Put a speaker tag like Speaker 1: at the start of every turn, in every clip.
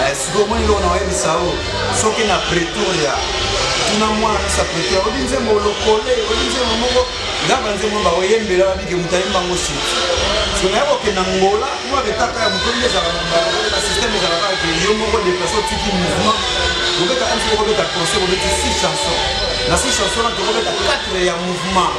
Speaker 1: eh, sikoyo
Speaker 2: omoni eloko na oyebisa o soki na pretoria tuna mwana misa pretoria oyebi nzembo lokole oyebi nzembo moko nga banzembo baoyembela babike moto ayemba ngo siti so naye kokenda ngola mwa betaka ya moto nde ezalaka na systeme ezalaka ke yo moko deplace otiki mouvement obeta msi okobeta conseil obeti six chanson na six chanson na tokobeta 4 ya mouvement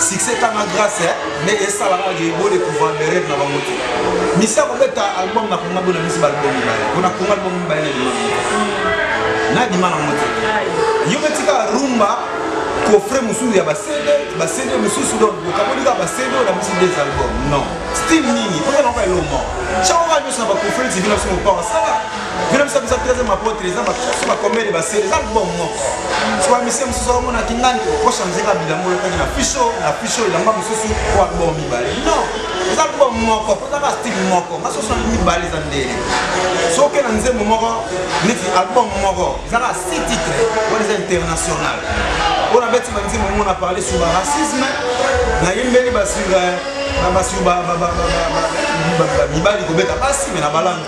Speaker 2: succès etanga grâce eh? nde esala kaka ke bo découvrir berere na bango te misi akobeta album na konga bona misi baalbum mibale mpona konga album mibale na dima na dima nango te yo beti kaka rumba coffre mosusu ya basede basede mosusu donc okaboli kaka basede oyo na misi des album non style nini oza nango elombo cakaka nyonso na bacoffre tv na biso mopawa sala vino biso biso teze mapotre eza so bakomele basele eza libomo moko so bamise mosusu akomona kingani kochange ka bilango olekaki na fisho na fisho elamba mosusu po albomo mibale non eza libomo moko mpo eza ka style moko nga soso na mibale eza ndele soki na nzembo moko neti album moko eza ka si titre wana eza international oyo nabeti banzembo mongo na parle sur ba racisme nayembeli basur na basur mibali kobeta basi me na balanga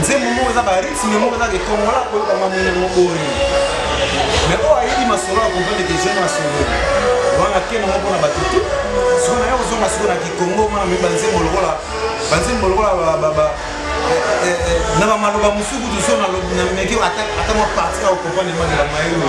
Speaker 2: nzembo moko eza baritme moko eza ke kongola koyoka mwa ndenge yango boni me oyo ayebi masolo ya comprendre ke jeune masolo wana keno moko mpona bato tu siko naye kozonga siko na kikongo mwana moyebi banzembo lokola banzembo lokola eh, eh, eh, na bamaloba mosuku tozo na meke ata mwa parti ya okomprendre maloba maye oyo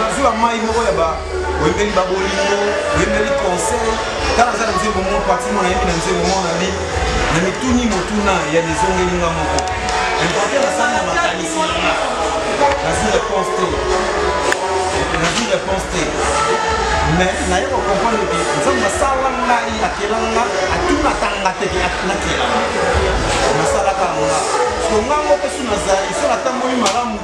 Speaker 2: nazula mai moko ya oyembeli babolingo oyembeli conseil tala aza na nzembo moko pati mona yebi na nzembo moko na bi na mituni motuna ya nezongeli nga moko importe nasali na makanisi nazwi réponse te nazwi réponse te mais naye kocomprendre ke nzambe asala ngai akela nga atunaka nga te nakela nasalaka nga so nga moko mpe so nazali so natamboli malamu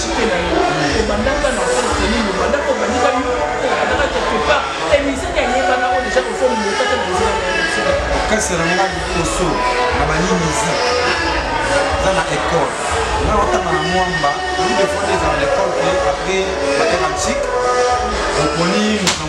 Speaker 2: kasi na ngai liboso na bayimizi eza na école nga otanga na mwamba lidefonde eza na l'école ke apres baterantique oponi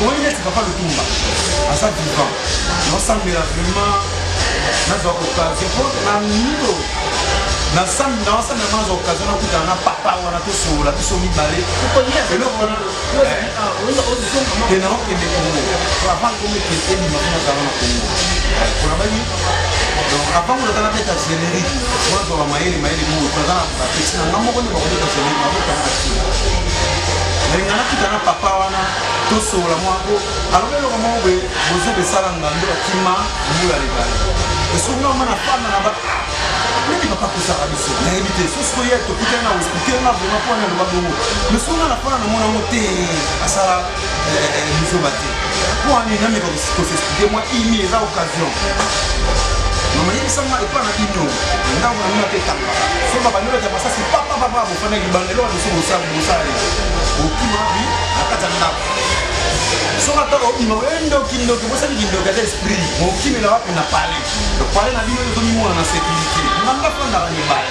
Speaker 2: omoni neti papa lutumba aza vivant naosambela vraiment nazwa occasion mpo na mito nasambi naosambela mpo nazwa occasion nakutana na papa wana tosolola biso mibale eloko wana te naokende kongo avant komekende ebima mpo nazala na kongo kolabaki avant kuna tala beta zeleri wazwa wa mayele mayele mo toza na bapesi na nga moko nde bakobeta zeleri bakotanga tina nalinga nakuta na papa wana tosolola mwako alobi eloko moko boye bozo besala ngando akima mbula lebale esoki nga mwana fanda na ba nini papa kosaka biso nayebi te sosi koye tokutani na hospitali na vraimen mpo wana aloba bongo mais soki nga na fanda na mwana yango te asala biso bate mpo wana enameka kosesplike mwa imi eza occasion mama yebisanga epa na bino ndako na mina mpe etanga so babandi bata masasi papapapa bofanda libanda eloko biso bosala bosala ye okima bi na kati ya ndako soki ata obima oye ndoki ndoki bosali kindoki ata esprit mokimela wapi na pale pale na bino ezomimona na sécurité nanga fandaka libala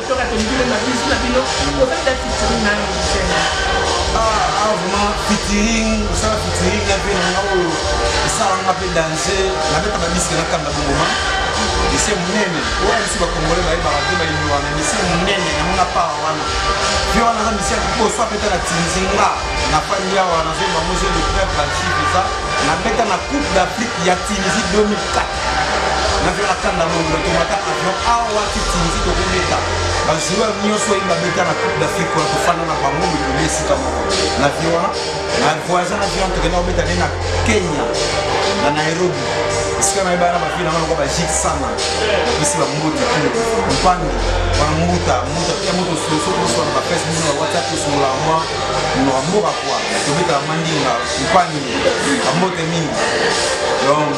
Speaker 1: Toka te mukile ma bisous na bino.
Speaker 2: Oza ta featuring na musicien. Ah ah vraiment featuring, ça featuring na pe na ngao. Ça on a fait danser, la bête ma bisque na kanga boma. Ese munene, oyo biso ba congolais ba yebaka te ba yinwa na ese munene na mona pa wana. Pe wana na misali ko so apeta na tinzinga na fandi awa na zomba mose de prêtre ba chiffres ça. Na beta na Coupe d'Afrique ya Tunisie 2004. navio na kanda mongolo tomata avion awa titinzi tokobeta bajoueur nyonso oyo babeta na coupe d'afrique wana tofanda na bango milolo esika moko navio wana na voyage na avion tokenda kobeta nde na kenya na nairobi esika nayebana bafina wana kwa bajik sana bapesi bamboti mpangi wana mbuta mbuta pia moto sosokosoana bapesi bino na whatsapp osolola mwa monoko mboka kwa tobetaka mandinga mpangi bambote mingi donc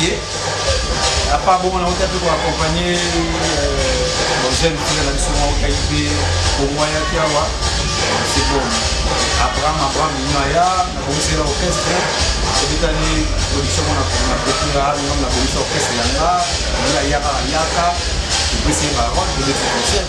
Speaker 2: ye apa bongo na ota mpe koakompagne jeune fille na biso moko kai mpe bongo ayaki awa c'est bon abraham abraham ino aya nabongisela orchestre ebetani production mona na kopira ngambo na bongisa orchestre yanga ngai ayaka ayaka topesi ye barote tobeti
Speaker 1: concert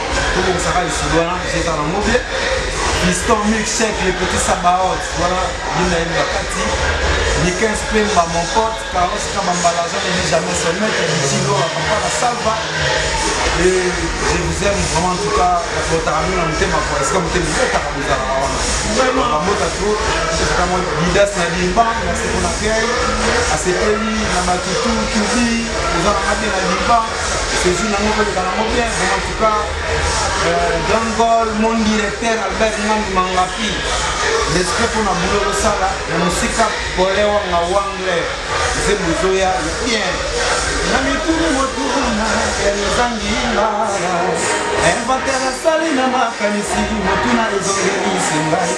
Speaker 2: tobongisaka lisolo wana ezozala na mobe fiston milkshek le petit sabaot wana yina ye na kati niken spemba mon pote caros kabambala jean ebi jamais son maître bitilo papa na salva et je vous aime vraiment en tout cas botaka mino na motema po esika motema ezotaka bozalaka wana bamota to ezaka mwa bidas na limba merci pona kei asepeli na batutu tubi oza na mabe na limba saisie nango koleka nango bien bon en tout cas euh, grand gol mon directeur albert ngandu mangapi respect mpona bulo losala na mosika pole wanga wangle nzembo ezoya bien na mituni motuna yanozangi ngala inventaire asali na makanisi motuna ezongelisi ngai